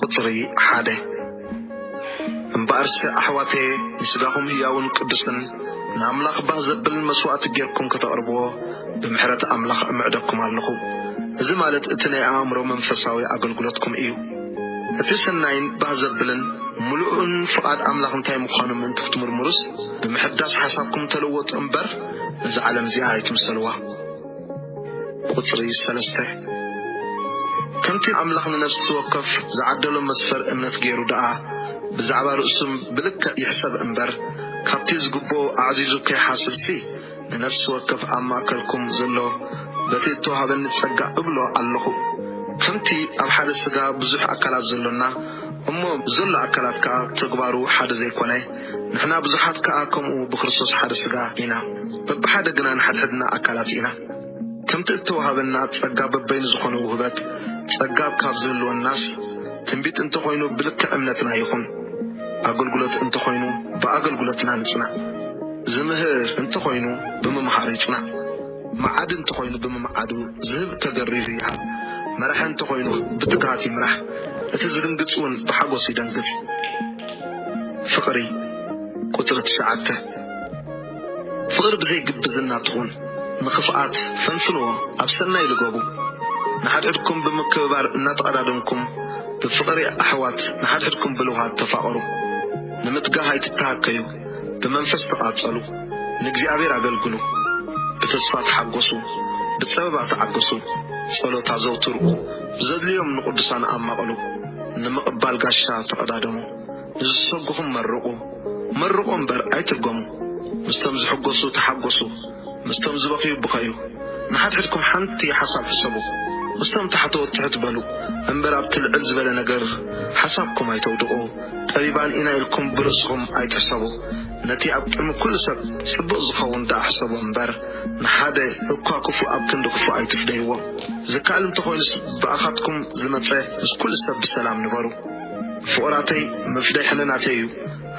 ቁጽሪ ሓደ። እምበኣርሲ ኣሕዋተየ፣ ንሥጋኹም ህያውን ቅዱስን፣ ንኣምላኽ ባህ ዘብል መሥዋዕቲ ጌርኩም ከተቕርብዎ፣ ብምሕረት ኣምላኽ እምዕደኩም ኣሎኹ። እዚ ማለት እቲ ናይ ኣእምሮ መንፈሳዊ ኣገልግሎትኩም እዩ። እቲ ሠናይን ባህ ዘብልን ምሉእን ፍቓድ ኣምላኽ እንታይ ምዃኑ ምእንቲ ክትምርምሩስ፣ ብምሕዳስ ሓሳብኩም ተለወጡ እምበር፣ ነዛ ዓለም'ዚኣ ኣይትምሰልዋ። ቁጽሪ ሰለስተ፣ ከምቲ ኣምላኽ ንነፍሲ ወከፍ ዝዓደሎ መስፈር እምነት ገይሩ ደኣ ብዛዕባ ርእሱም ብልክዕ ይሕሰብ እምበር፣ ካብቲ ዝግብኦ ኣዕዚዙ ከይሓስብሲ፣ ንነፍሲ ወከፍ ኣብ ማእከልኩም ዘሎ በቲ እተዋህበኒ ጸጋ እብሎ ኣሎኹ። ከምቲ ኣብ ሓደ ስጋ ብዙሕ ኣካላት ዘሎና እሞ ዘሎ ኣካላት ከኣ ተግባሩ ሓደ ዘይኮነ፣ ንሕና ብዙሓት ከኣ ከምኡ ብክርስቶስ ሓደ ስጋ ኢና፣ በብሓደ ግና ንሓድሕድና ኣካላት ኢና። ከምቲ እተወሃበና ጸጋ በበይኑ ዝኾነ ውህበት ጸጋ ካብ ዝህልወናስ፣ ትንቢት እንተ ኾይኑ ብልክዕ እምነትና ይኹን፣ ኣገልግሎት እንተ ኾይኑ ብኣገልግሎትና ንጽናዕ፣ ዝምህር እንተ ኾይኑ ብምምሃር ይጽናዕ። መዓዲ እንተኾይኑ ብምምዓዱ ዝህብ ተገሪሁ ይሃብ፣ መራሒ እንተኾይኑ ብትግሃት ይምራሕ፣ እቲ ዝድንግጽ ውን ብሓጎስ ይደንግጽ። ፍቕሪ፣ ቁጽሪ ትሽዓተ፣ ፍቕሪ ብዘይ ግብዝና ትኹን፣ ንኽፍኣት ፈንፍንዎ ኣብ ሰናይ ልገቡ፣ ንሓድሕድኩም ብምክብባር እናተቐዳደምኩም ብፍቕሪ ኣሕዋት ንሓድሕድኩም ብልውሃት ተፋቐሩ፣ ንምትጋህ ኣይትተሃከዩ፣ ብመንፈስ ተቓጸሉ፣ ንእግዚኣብሔር ኣገልግሉ፣ ብተስፋ ተሓጎሱ፣ ብጸበባ ተዓገሱ፣ ጸሎት ኣዘውትሩ፣ ብዘድልዮም ንቕዱሳን ኣማቕሉ፣ ንምቕባል ጋሻ ተቐዳደሙ፣ ንዝሰጉኹም መርቑ፣ መርቑ እምበር ኣይትርገሙ፣ ምስቶም ዝሕጎሱ ተሓጎሱ፣ ምስቶም ዝበኽዩ ብኸዩ። ንሓድሕድኩም ሓንቲ ሓሳብ ሕሰቡ። ምስቶም ታሕተዎት ትሕት በሉ። እምበር ኣብቲ ልዕል ዝበለ ነገር ሓሳብኩም ኣይተውድቑ። ጠቢባን ኢና ኢልኩም ብርእስኹም ኣይትሕሰቡ። ነቲ ኣብ ቅድሚ ኩሉ ሰብ ጽቡቕ ዝኸውን ደኣ ሕሰቦ እምበር፣ ንሓደ እኳ ክፉእ ኣብ ክንዲ ክፉእ ኣይትፍደይዎ። ዝከኣል እንተ ኾይኑስ ብኣኻትኩም ዝመጸ ምስ ኩሉ ሰብ ብሰላም ንበሩ። ፍቑራተይ፣ ምፍዳይ ሕልናተይ እዩ።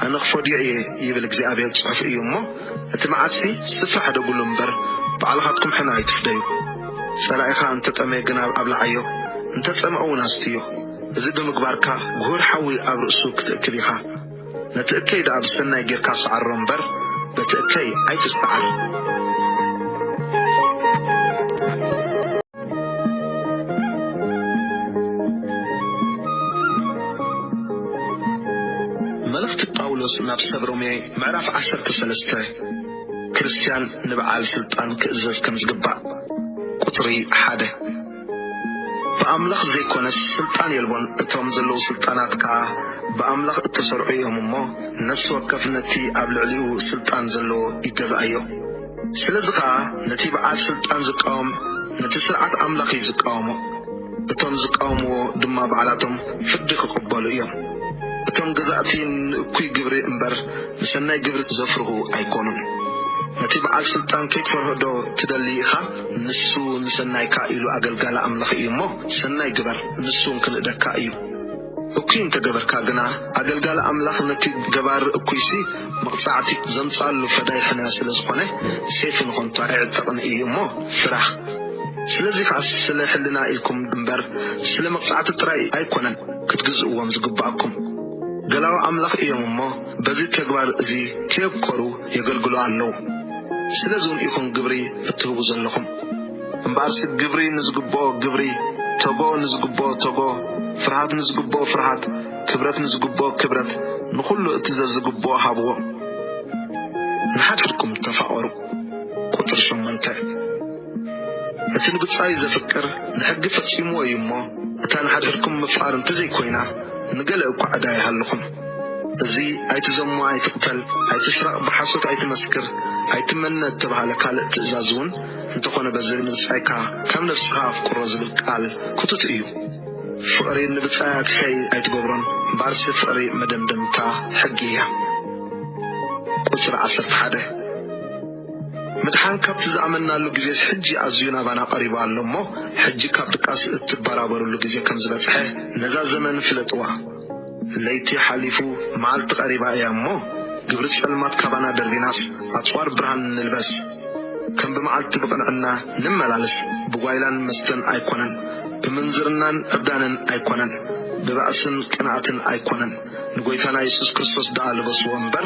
ኣነ ክፈድዮ እየ ይብል እግዚኣብሔር ጽሑፍ እዩ እሞ እቲ መዓጽቲ ስፍሕ ሓደጉሉ እምበር ባዕልኻትኩም ሕነ ኣይትፍደዩ ጸላኢኻ እንተ ጠመየ ግና ኣብልዓዮ እንተ ጸምኦ ውን ኣስትዮ እዚ ብምግባርካ ጉሁር ሓዊ ኣብ ርእሱ ክትእክብ ኢኻ ነቲ እከይ ደኣ ብሰናይ ጌርካ ሰዓሮ እምበር በቲ እከይ ኣይትሰዓር። መልእኽቲ ጳውሎስ ናብ ሰብ ሮሜ ምዕራፍ ዓሰርተ ሰለስተ፣ ክርስትያን ንበዓል ስልጣን ክእዘዝ ከም ዝግባእ፣ ቁጽሪ ሓደ፣ ብኣምላኽ ዘይኰነስ ስልጣን የልቦን፣ እቶም ዘለዉ ስልጣናት ከኣ ብኣምላኽ እተሰርዑ እዮም እሞ፣ ነፍሲ ወከፍ ነቲ ኣብ ልዕሊኡ ስልጣን ዘለዎ ይገዝኣዮ። ስለዚ ከኣ ነቲ በዓል ስልጣን ዝቃወም ነቲ ስርዓት ኣምላኽ እዩ ዝቃወሞ፣ እቶም ዝቃወምዎ ድማ ባዕላቶም ፍርዲ ክቕበሉ እዮም። እቶም ገዛእቲ ንእኩይ ግብሪ እምበር ንሰናይ ግብሪ ዘፍርሁ ኣይኮኑን። ነቲ በዓል ስልጣን ከይትፈርሆዶ ትደሊ ኢኻ? ንሱ ንሰናይካ ኢሉ ኣገልጋሊ ኣምላኽ እዩ እሞ ሰናይ ግበር ንሱ እውን ክንእደካ እዩ። እኩይ እንተ ገበርካ ግና ኣገልጋሊ ኣምላኽ ነቲ ገባሪ እኩይሲ መቕጻዕቲ ዘምጽኣሉ ፈዳይ ሕነ ስለ ዝኾነ ሴፍ ንኸንቱ ኣይዕጠቕን እዩ እሞ ፍራህ። ስለዚ ኸኣ ስለ ሕልና ኢልኩም እምበር ስለ መቕጻዕቲ ጥራይ ኣይኮነን ክትግዝእዎም ዝግብኣኩም። ገላዉ ኣምላኽ እዮም እሞ በዚ ተግባር እዚ ከየብኮሩ የገልግሉ ኣለዉ። ስለዚውን ኢኹም ግብሪ እትህቡ ዘለኹም። እምበኣርሲ ግብሪ ንዝግብኦ ግብሪ፣ ተጎ ንዝግብኦ ተጎ፣ ፍርሃት ንዝግብኦ ፍርሃት፣ ክብረት ንዝግብኦ ክብረት፣ ንኹሉ እቲ ዘዝግብኦ ሃብዎ። ንሓድሕድኩም ተፋቐሩ። ቁጽሪ ሸሞንተ፣ እቲ ንብጻዩ ዘፍቅር ንሕጊ ፈጺምዎ እዩ እሞ፣ እታ ንሓድሕድኩም ምፍቓር እንተዘይኮይና ንገለ እኳ ዕዳ ይሃልኹም። እዚ ኣይትዘሙ ኣይትቕተል ኣይትስረቕ ብሓሶት ኣይትመስክር ኣይትመነ እተብሃለ ካልእ ትእዛዝውን፣ እንተኾነ በዚ ንብጻይካ ከም ነብስኻ ኣፍቅሮ ዝብል ቃል ክቱት እዩ። ፍቕሪ ንብጻያትከይ ኣይትገብሮን ባርሲ ፍቕሪ መደምደምታ ሕጊ እያ። ቁጽሪ ዓሰርተ ሓደ ምድሓን ካብቲ ዝኣመናሉ ግዜስ ሕጂ ኣዝዩ ናባና ቀሪቡ ኣሎ እሞ ሕጂ ካብ ድቃስ እትበራበርሉ ግዜ ከም ዝበጽሐ ነዛ ዘመን ፍለጥዋ። ለይቲ ሓሊፉ መዓልቲ ቀሪባ እያ እሞ ግብሪ ጸልማት ካባና ደርቢናስ ኣጽዋር ብርሃን ንልበስ። ከም ብመዓልቲ ብቕንዕና ንመላለስ ብጓይላን መስተን ኣይኮነን ብምንዝርናን ዕብዳንን ኣይኮነን ብባእስን ቅንኣትን ኣይኮነን ንጎይታና የሱስ ክርስቶስ ደኣ ልበስዎ እምበር